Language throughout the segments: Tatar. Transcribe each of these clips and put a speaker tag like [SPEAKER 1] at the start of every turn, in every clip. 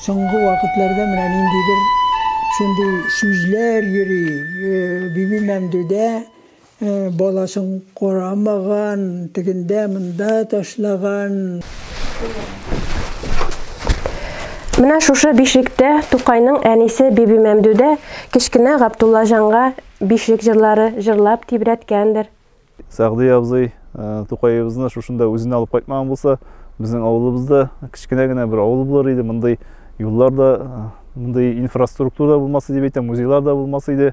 [SPEAKER 1] Соңгы вакытларда менә ниндидер шундый сүзләр йөри, Биби Мәмдүдә Баласын карамаган, тегендә, монда ташлаган. Менә шушы бишлектә Тукайның әнисе Бибимәмдүдә кечкенә Габдуллаҗанга бишлек җырлары җырлап тибрәткәндер. Сәгъди абзый Тукаебызны шушында үзенә алып кайтмаган булса, безнең авылыбызда кечкенә генә бер авыл булыр иде, мондый юллар да, мондый инфраструктура да булмас иде дип әйтәм, музейлар да булмас иде.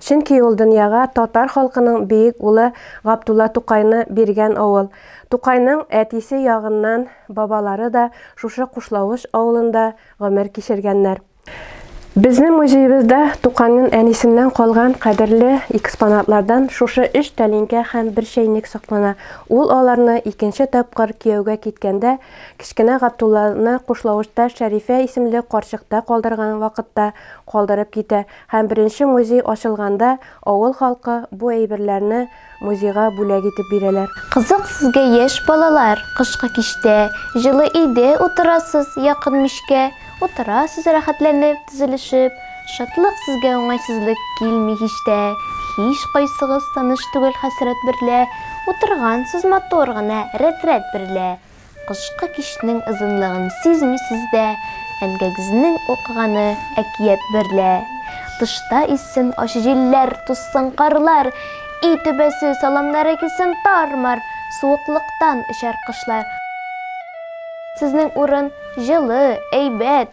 [SPEAKER 1] Чөнки ул дөньяга татар халкының биек улы Габдулла Тукайны биргән авыл. Тукайның әтисе ягыннан бабалары да шушы Кушлавыч авылында гомер кичергәннәр. Безнең музеебызда Тукайның әнисеннән калган кадерле экспонатлардан шушы өч тәлинкә һәм бер чәйнек саклана. Ул аларны икенче тапкыр кияүгә киткәндә, кечкенә Габдулланы Кушлавычта Шәрифә исемле карчыкта калдырган вакытта калдырып китә. Һәм беренче музей ачылганда авыл халкы бу әйберләрне музейга бүләк итеп бирәләр. Кызык сезгә яшь балалар, кышкы кичтә, җылы өйдә утырасыз, якын мичкә утырасыз рәхәтләнеп, тезелешеп, шатлык сезгә уңайсызлык килми һич тә, һич кайсыгыз таныш түгел хәсрәт берлә утыргансыз матур гына рәтрәт берлә, Кышкы кичнең озынлыгын сизмисез дә, әнгәгезнең укыганы әкият берлә. Тышта иссен ачы җилләр, тузсын карлар, өй түбәсе, саламнары килсен тар-мар, суыклыктан очар кошлар. Сезнең урын җылы, әйбәт.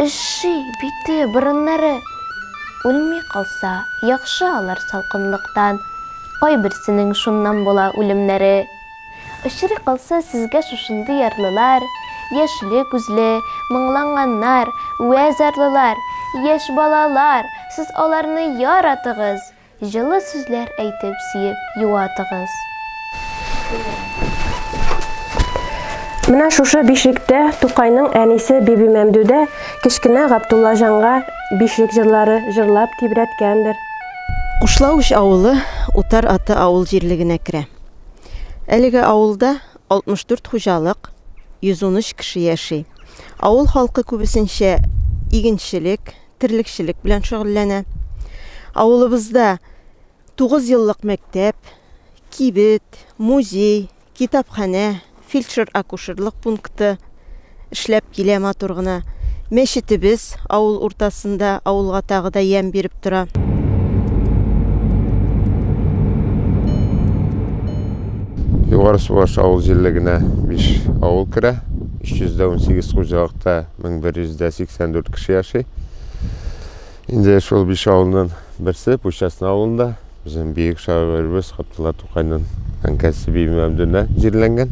[SPEAKER 1] Өшши, бите, борыннары. Үлми калса, яхшы алар салкынлыктан. Кайберсенең шуннан була үлемнәре. Очрый калса сезгә шушындый ярлылар, яшьле күзле, моңланганнар, вә зарлылар, яшь балалар, сез аларны яра-тыгыз! Җылы сүзләр әйтеп сөеп юатыгыз. Менә шушы бишлектә Тукайның әнисе Бибимәмдүдә кечкенә Гаптуллаҗанга бишлек җырлары җырлап тибрәткәндер. Кушлавыч авылы Утар Аты авыл җирлегенә керә. Әлеге авылда 64 хуҗалык, 113 кеше яши. Авыл халкы күбесенчә игенчелек, терлекчелек белән шөгыльләнә. Авылыбызда 9 еллык мәктәп, кибет, музей, китапханә, фельдшер-акушерлык пункты эшләп килә матур гына. Мәчетебез авыл уртасында, авылга тагы да ямь биреп тора. Югары Субаш авыл җирлегенә 5 авыл керә. 318 хуҗалыкта 1184 кеше яши. Инде шул биш авылның берсе Пущасна авылында безнең бөек шагыйребез Габдулла Тукайның әнкәсе Бибимәмдүнә җирләнгән.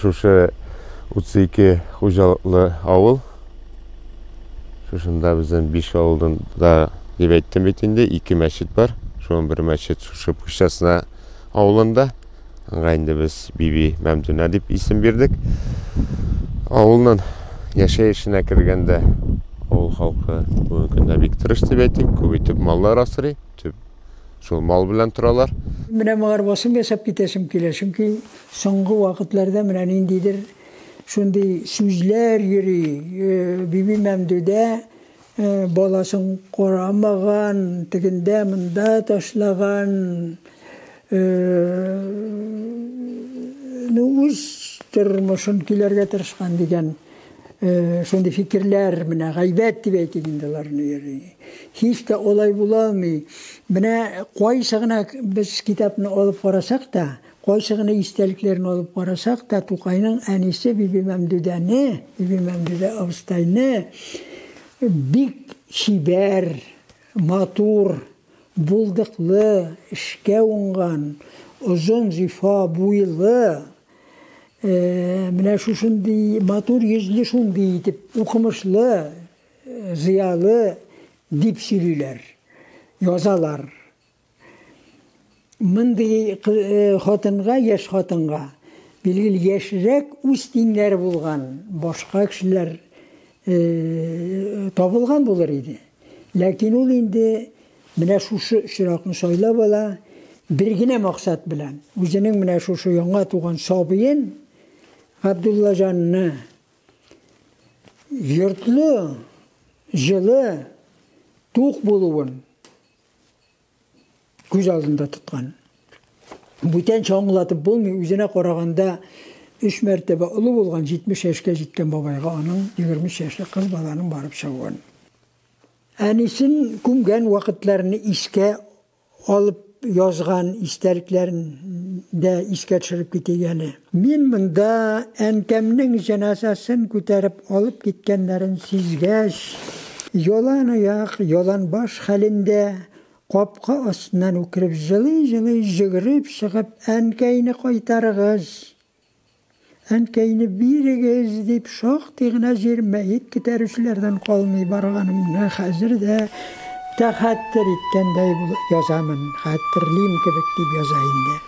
[SPEAKER 1] Шушы 32 хуҗалыклы авыл. Шушында безнең биш авылның да дип әйттем бит инде, ике мәчет бар. Шуның бер мәчет шушы Пущасна авылында. Аңа инде без Биби Мәмдүнә дип исем бирдек. Авылның яшәешенә кергәндә авыл халкы бүгенге көндә бик тырыш дип әйтик, күп итеп маллар асрый, төп шул мал белән торалар. Менә моңар басым ясап китәсем килә, чөнки соңгы вакытларда менә ниндидер шундый сүзләр йөри, Биби Мәмдүдә Баласын карамаган, тегендә монда ташлаган, ну үз тормышын көйләргә тырышкан дигән шундый фикерләр менә гайбәт дип әйтик инде аларны йөри. Һич тә алай була алмый. Менә кайсы гына без китапны алып карасак та, Кайсы гына истәлекләрен алып карасак та, Тукайның әнисе Бибимәмдүдәне, Бибимәмдүдә абыстайны бик чибәр, матур, булдыклы, эшкә уңган, озын зифа буйлы, менә шушындый матур йөзле, шундый итеп укымышлы, зыялы дип сөйлиләр, язалар. Мондый хатынга, яшь хатынга, билгеле, яшьрәк үз тиңнәре булган башка кешеләр табылган булыр иде. Ләкин ул инде менә шушы очракны сайлап ала, бер генә максат белән. Үзенең менә шушы яңа туган сабыен Габдуллаҗанны йортлы, җылы, тук булуын, Күз алдында тоткан. Бүтәнчә аңлатып булмый, үзенә караганда өч мәртәбә олы булган 70 яшькә җиткән бабайга аның 23 яшьлек кыз баланың барып чыгуын. Әнисен күмгән вакытларны искә алып язган истәлекләрен дә искә төшереп китик әле. Мин монда әнкәмнең җеназасын күтәреп алып киткәннәрен сизгәч, яланаяк, яланбаш хәлендә, капка астыннан үкереп җылый-җылый йөгереп чыгып, Әнкәйне кайтарыгыз! Әнкәйне бирегез! дип шактый гына җир мәет күтәрүчеләрдән калмый барганымны хәзер дә тәхәттер иткәндәй булып язамын, хәтерлим кебек дип яза инде.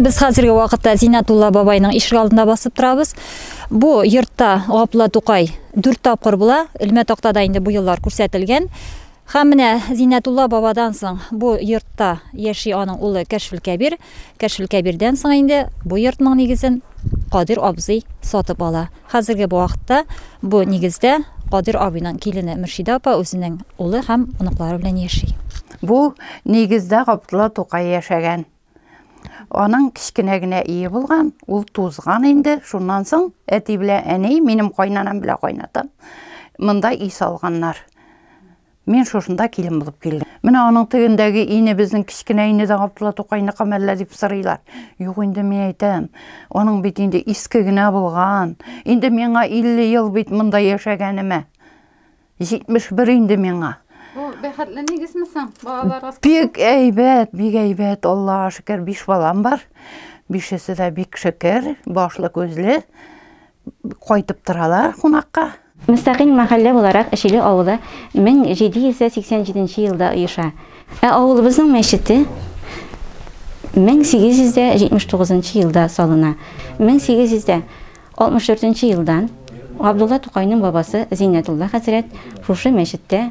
[SPEAKER 1] Без хәзерге вакытта Зинатулла бабайның ишек алдында басып торабыз. Бу йортта Гапла Тукай 4 тапкыр була. Элмә тактада инде бу еллар күрсәтелгән. Һәм менә Зиннәтулла бабадан соң бу йортта яши аның улы Кәшфил Кәбир. Кәшфил Кәбирдән соң инде бу йортның нигезен Кадир абзый сатып ала. Хәзерге бу вакытта бу нигездә Кадир абыйның килене Мөршидә апа үзенең улы һәм оныклары белән яши. Бу нигездә Габдулла Тукай яшәгән. Аның кечкенә генә өе булган, ул тузган инде, шуннан соң әти белән әни, минем кайнанам белән кайнатам монда өй салганнар. Мин шушында килен булып килдем. Менә аның тегендәге ине безнең кечкенә ине дә Габдулла Тукайныкымы әллә дип сорыйлар. Юк инде мин әйтәм, аның бит инде иске генә булган. Инде миңа 50 ел бит монда яшәгәнемә. 71 инде миңа. Бу бәхетле нигезме соң? Балаларыгыз Бик әйбәт, бик әйбәт. Аллага шөкер, биш балам бар. Бишесе дә бик шөкер, башлы күзле. кайтып торалар кунакка. Мөстәкыйль мәхәллә буларак Эчиле авылы 1787 елда оеша. Ә авылыбызның мәчете 1879 елда салына. 1864 елдан Габдулла Тукайның бабасы Зиннәтулла хәзрәт шушы мәчеттә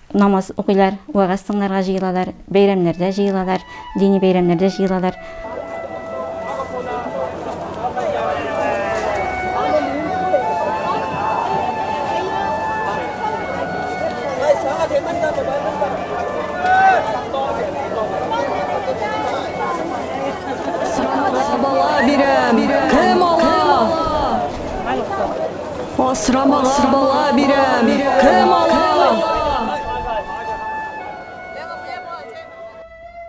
[SPEAKER 1] Намаз укыйлар, вәгазь тыңларга җыелалар, бәйрәмнәрдә җыелалар, дини бәйрәмнәрдә җыелалар. Асрамага бала бирәм, кем ала?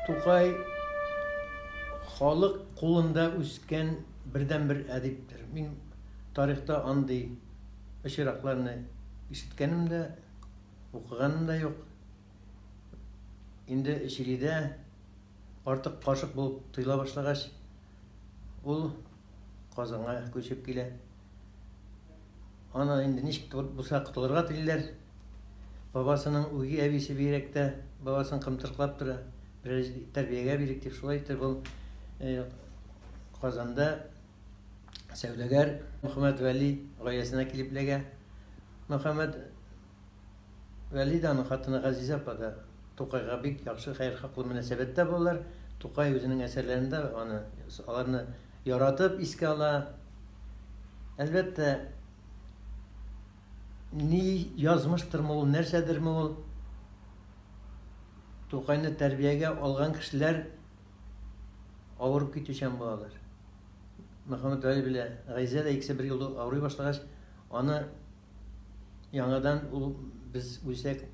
[SPEAKER 1] Тукай халык кулында үскән бердәнбер әдиптер. Мин тарихта андый очракларны ишеткәнем дә, укыганым да юк. инде Чилидә артык кашык булып тоела башлагач, ул Казанга күчеп килә. Аны инде ничек булса котылырга телиләр. Бабасының үги әбисе бигрәктә бабасын кымтырклап тора. Бераз тәрбиягә бирик дип шулай итеп ул э, Казанда сәүдәгәр Мөхәммәд Вәли гаиләсенә килеп эләгә. Мөхәммәд Вәлидә аның хатыны Газизә апа да Тукайга бик яхшы, хәерхаклы мөнәсәбәттә булалар. Тукай үзенең әсәрләрендә аны, аларны яратып искә ала. Әлбәттә, ни язмыштырмы ул, нәрсәдерме ул, Тукайны тәрбиягә алган кешеләр авырып китүчән булалар. Мөхәммәтгали белә, Газизә дә икесе бер юлы авырый башлагач, аны Яңадан ул без үлсәк,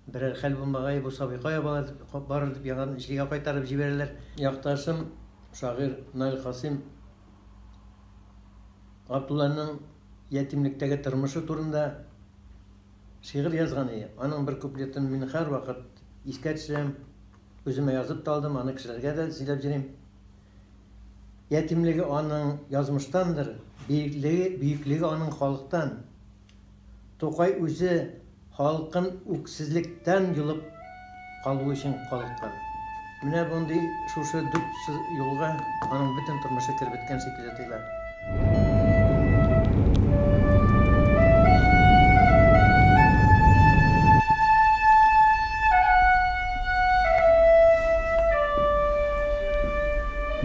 [SPEAKER 1] берәр хәл булмагае, бу сабый кая барыр, барыр дип яңадан Ишлегә кайтарып җибәрәләр. Якташым, шагыйрь Наил Касыйм Габдулланың ятимлектәге тормышы турында шигырь язган иде. Аның бер куплетын мин һәрвакыт искә төшерәм. Үземә язып та алдым, аны кешеләргә дә сөйләп йөрим. Ятимлеге аның язмыштандыр, биеклеге, бөеклеге аның халыктан. Тукай үзе халкын үксезлектән йолып калу өчен калыккан. Менә мондый шушы дүрт юлга аның бөтен тормышы кереп беткән шикелле тоела.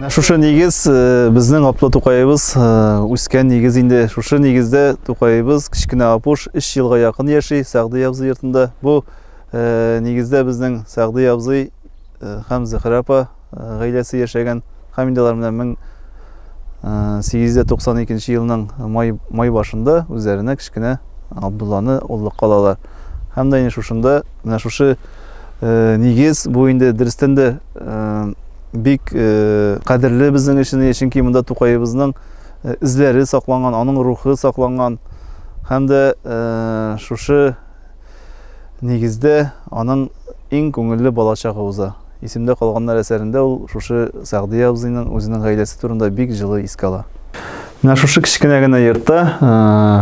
[SPEAKER 1] Шушы нигез э, безнең Аплы Тукаебыз э, үскән нигез инде. Шушы нигездә Тукаебыз кечкенә Апуш 3 елга якын яши Сәгъди абзый йортында. Бу э, нигездә безнең Сәгъди абзый һәм Зөхрә апа Гаиләсе яшәгән Хамидалар менә 1892 елның май, май башында үзләренә кечкенә Абдулланы оллыкка алалар. Һәм дә инде шушында, менә шушы э, нигез, бу инде дөрестән дә э, бик э, кадерле безнең өчен, чөнки монда Тукаебызның э, эзләре сакланган, аның рухы сакланган. Һәм дә э, шушы Нигездә, аның иң күңелле бала чагы уза. Исемдә калганнар әсәрендә ул шушы Сәгъдия абзыйның үзенең гаиләсе турында бик җылы искә ала. Менә шушы кечкенә генә йортта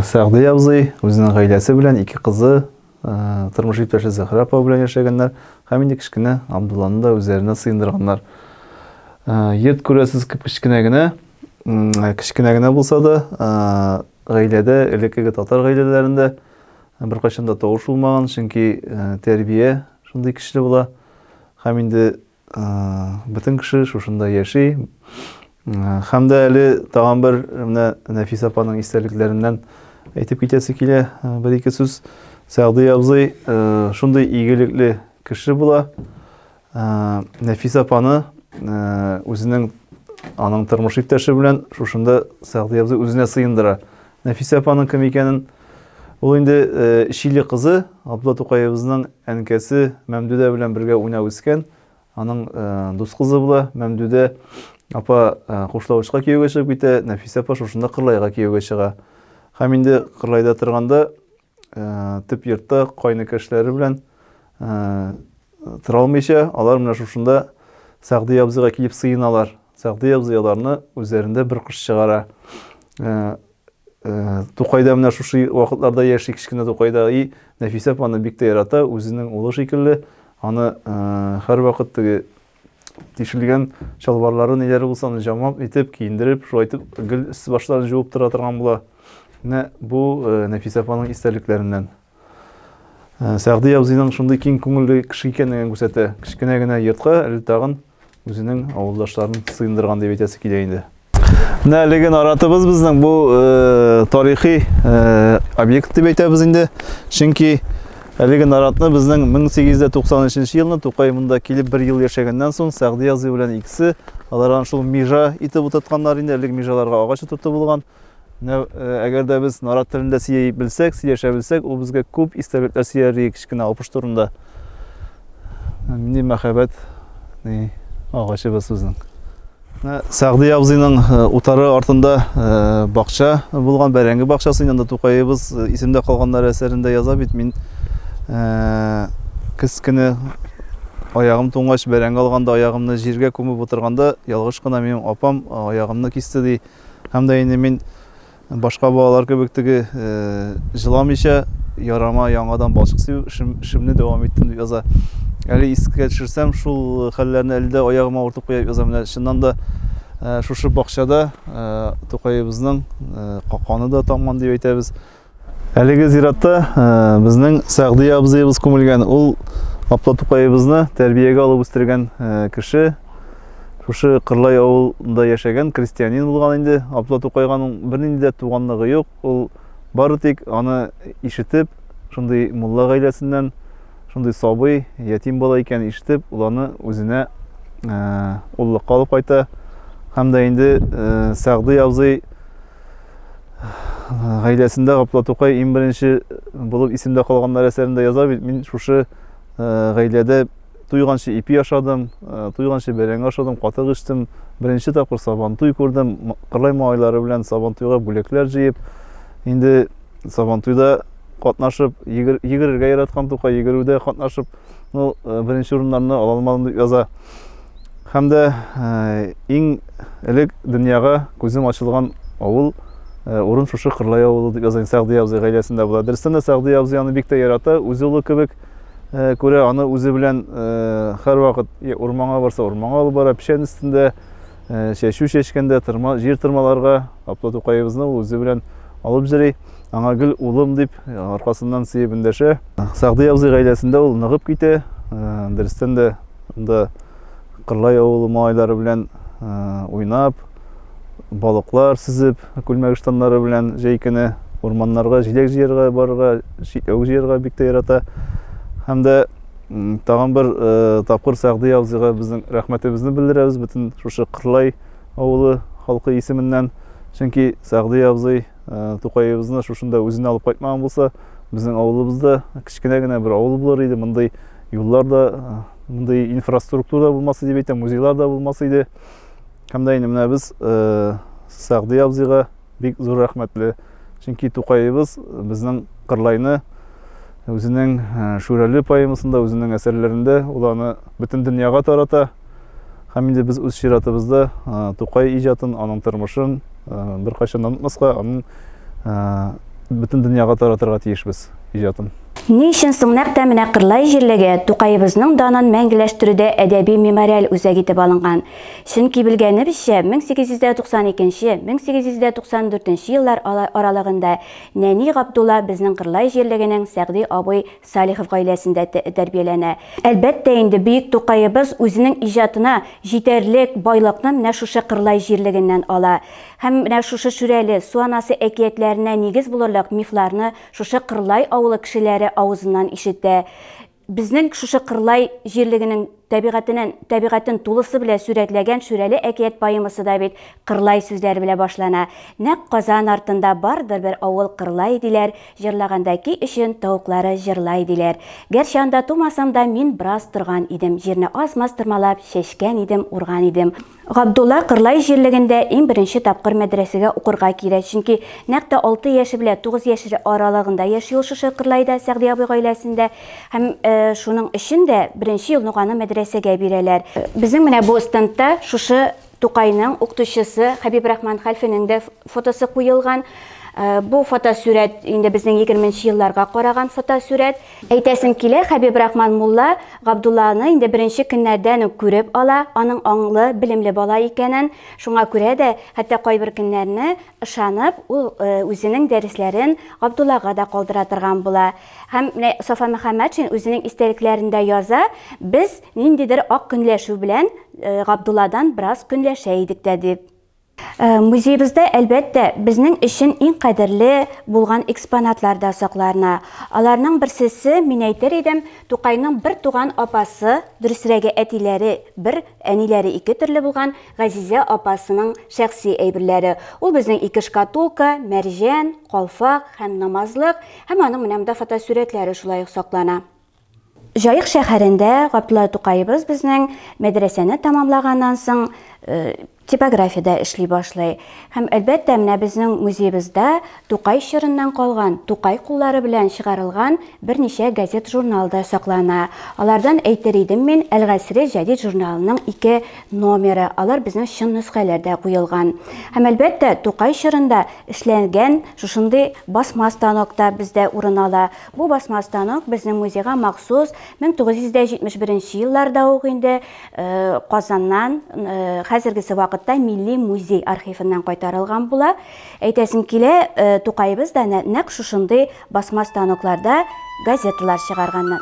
[SPEAKER 1] Сәгъдия абзый үзенең гаиләсе белән, ике кызы, тормыш иптәше Зөһрә апа белән яшәгәннәр һәм инде кечкенә Абдулланы да үзләренә сыендырганнар. Йорт күрәсез кечкенә генә, кечкенә генә булса да, гаиләдә элеккеге татар гаиләләрендә Ә беркайчан да тавыш булмаган, чөнки тәрбия шундый көчле була. Һәм инде бөтен кеше шушында яши. Һәм дә әле тагын бер менә Нәфис апаның истәлекләреннән әйтеп китәсе килә бер ике сүз. Сәгъди абзый шундый игелекле кеше була. Нәфис апаны үзенең аның тормыш иптәше белән шушында Сәгъди абзый үзенә сыендыра. Нәфис апаның кем икәнен ул инде Чили кызы Абдулла Тукаебызның әнкәсе Мәмдүдә белән бергә уйнап үскән. Аның дус кызы була. Мәмдүдә апа Кушлавычка кияүгә чыгып китә, Нәфис апа шушында Кырлайга кияүгә чыга. Һәм инде Кырлайда торганда Төп йортта кайныкы эшләре белән тора алмыйча, алар менә шушында Сәгъди абзыйга килеп сыеналар. Сәгъди абзый аларны үзләрендә бер кыш чыгара. Тукайда менә шушы вакытларда яши кечкенә Тукайда. И Нәфисә апаны бик тә ярата, үзенең улы шикелле. Аны һәрвакыт теге тишелгән чалбарлары ниләре булса аны җамап итеп киендереп шулай итеп гел өсте башларын җуып тора торган була менә бу э, нәфисә апаның истәлекләреннән э, сәгъди абзыйның шундый киң күңелле кеше икәнлеген күрсәтә кечкенә генә йортка әле тагын үзенең авылдашларын сыендырган дип әйтәсе килә инде Менә әлеге наратыбыз безнең бу э, тарихи э, объект дип әйтәбез инде. Чөнки әлеге наратны безнең 1893 елны Тукай монда килеп бер ел яшәгәннән соң Сәгъди Язый белән икесе алар аны шул межа итеп утыртканнар инде. Әлеге межаларга агач утырту булган. Менә э, әгәр дә без нарат телендә сөйли белсәк, сөйләшә белсәк, ул безгә күп истәлекләр сөйләр иде кечкенә алпыш турында. Ни мәхәббәт, ни агачыбыз безнең. Сәгъди абзыйның утары артында бакча булган, бәрәңге бакчасы, инде Тукаебыз исемдә калганнар әсәрендә яза бит, мин кыз көне аягым туңгач бәрәңге алганда аягымны җиргә күмеп утырганда ялгыш кына минем апам аягымны кисте ди. Һәм дә инде мин Башка балалар кебек теге җыламыйча ярама яңадан балчык сибү эшемне дәвам иттем дип яза. Әле искә төшерсәм, шул хәлләрне әле дә аягыма уртып куеп язам. Менә чыннан да шушы бакчада Тукаебызның каканы да тамган дип әйтәбез. Әлеге зиратта безнең Сәгъди абзыебыз күмелгән. Ул Апла Тукаебызны тәрбиягә алып үстергән кеше. Шушы Кырлай авылында яшәгән крестьянин булган инде. Абдулла Тукайганың бернинди дә туганлыгы юк. Ул бары тик аны ишетеп, шундый мулла гаиләсеннән, шундый сабый, ятим бала икәнен ишетеп, ул аны үзенә уллыкка алып кайта. Һәм дә инде Сәгъди абзый гаиләсендә Гапла Тукай иң беренче булып исемдә калганнар әсәрендә яза бит, мин шушы гаиләдә Туйганчы ипи ашадым, туйганчы бәрәңге ашадым, катык эчтем. Беренче тапкыр Сабантуй күрдем. Кырлай малайлары белән Сабантуйга бүләкләр җыеп, инде Сабантуйда катнашып, йөгерергә яраткан Тукай, йөгерүдә катнашып, ну, беренче урыннарны ала алмадым дип яза. Һәм дә иң элек дөньяга күзем ачылган авыл урын шушы Кырлай авылы дип яза. Сәгъди абзый гаиләсендә була. Дөрестән дә Сәгъди абзый аны бик тә ярата, үз улы кебек. э, күрә аны үзе белән һәрвакыт э, урманга барса урманга алып бара печән өстендә э, чәчү чәчкәндә тырма җир тырмаларга апла тукаебызны ул үзе белән алып җөри аңа гел улым дип аркасыннан сөеп эндәшә сәгъди абзый гаиләсендә ул ныгып китә дөрестән дә анда кырлай авылы малайлары белән уйнап балыклар сизеп, күлмәк штаннары белән җәй көне урманнарга җиләк җыярга барырга, чикләвек җыярга бик тә ярата. Һәм дә тагын бер э, тапкыр Сәгъди абзыйга безнең рәхмәтебезне белдерәбез бөтен шушы Кырлай авылы халкы исеменнән. Чөнки Сәгъди абзый э, Тукаебызны шушында үзенә алып кайтмаган булса, безнең авылыбызда кечкенә генә бер авыл булыр иде. Мондый юллар да, э, мондый инфраструктура да булмас иде, әйтәм, музейлар да булмас иде. Һәм дә инде менә без Сәгъди абзыйга бик зур рәхмәтле. Чөнки Тукаебыз безнең Кырлайны үзенең Шүрәле поэмасында, үзенең әсәрләрендә ул аны бөтен дөньяга тарата. Һәм инде без үз чиратыбызда Тукай иҗатын, аның тормышын беркайчан да онытмаска, аның бөтен дөньяга таратырга тиешбез иҗатын. Ни өчен соң нәкъ тә менә Кырлай җирлеге Тукаебызның данын мәңгеләштерүдә әдәби-мемориаль үзәк итеп алынган? Чөнки белгәнебезчә, 1892, 1894 еллар аралыгында нәни Габдулла безнең Кырлай җирлегенең Сәгъди абый Салихов гаиләсендә тәрбияләнә. Әлбәттә инде, бөек Тукаебыз үзенең иҗатына җитәрлек байлыкны менә шушы Кырлай җирлегеннән ала. Һәм менә шушы Шүрәле, Су анасы әкиятләренә нигез булырлык мифларны шушы Кырлай авылы кешеләре авызыннан ишетә. Безнең шушы Кырлай җирлегенең тәбигатенен тәбигатен тулысы белә сүрәтләгән Шүрәле әкият поэмасы да бит Кырлай сүзләре белә башлана, Нәкъ Казан артында бардыр бер авыл Кырлай диләр, җырлаганда ки өчен тавыклары җырлай диләр. Гәрчә анда тумасам да мин браз торган идем, җирне аз-маз тырмалап чәчкән идем, урган идем. Габдулла Кырлай җирлегендә иң беренче тапкыр мәдрәсәгә укырга килә, чөнки нәкъ тә алты яше белән тугыз яшь аралыгында яши ул шушы Кырлайда, Сәгъди абый гаиләсендә. Һәм шуның өчен дә беренче елны ук аны мәдрәсәгә бирәләр. Безнең менә бу стендта шушы Тукайның укытучысы Хәбиб Рахман хәлфенең дә фотосы куелган. Бу фотосурәт инде безнең егерменче елларга караган фотосурәт. Әйтәсем килә, Хәбибрахман мулла Габдулланы инде беренче көннәрдән үк күреп ала, аның аңлы, белемле бала икәнен, шуңа күрә дә, хәтта кайбер көннәрне, ышанып, ул үзенең дәресләрен Габдуллага да калдыра торган була. Һәм менә Сафа Мөхәммәтшин үзенең истәлекләрендә яза, Без ниндидер ак көнләшү белән Габдулладан бераз көнләшә идек тә, дип. Э, музеебездә, әлбәттә, безнең өчен иң кадерле булган экспонатлар да сакларына. Аларның берсесе, мин әйтер идем, Тукайның бер туган апасы, дөресрәге әтиләре бер, әниләре ике төрле булган Газизә апасының шәхси әйберләре. Ул безнең ике шкатулка, мәрҗән, калфак һәм намазлык, һәм аның менә монда фотосурәтләре шулай ук саклана. Җаек шәһәрендә Габдулла Тукаебыз безнең мәдрәсәне тәмамлаганнан соң типографиядә эшли башлый. Һәм әлбәттә, менә безнең музеебызда Тукай чорыннан калган, Тукай куллары белән чыгарылган берничә газет-журнал да саклана. Алардан әйтер идем мин, Әл-Гасре җәдид журналының ике номеры, алар безнең чын нөсхәләр дә куелган. Һәм әлбәттә, Тукай чорында эшләнгән шушындый басма станок та бездә урын ала. Бу басма станок безнең музейга махсус 1971 елларда ук инде Казаннан, хәзергесе вакытта Милли музей архивыннан кайтарылган була. Әйтәсем килә, Тукаебыз да нәкъ шушындый басма станокларда газеталар чыгарганнар.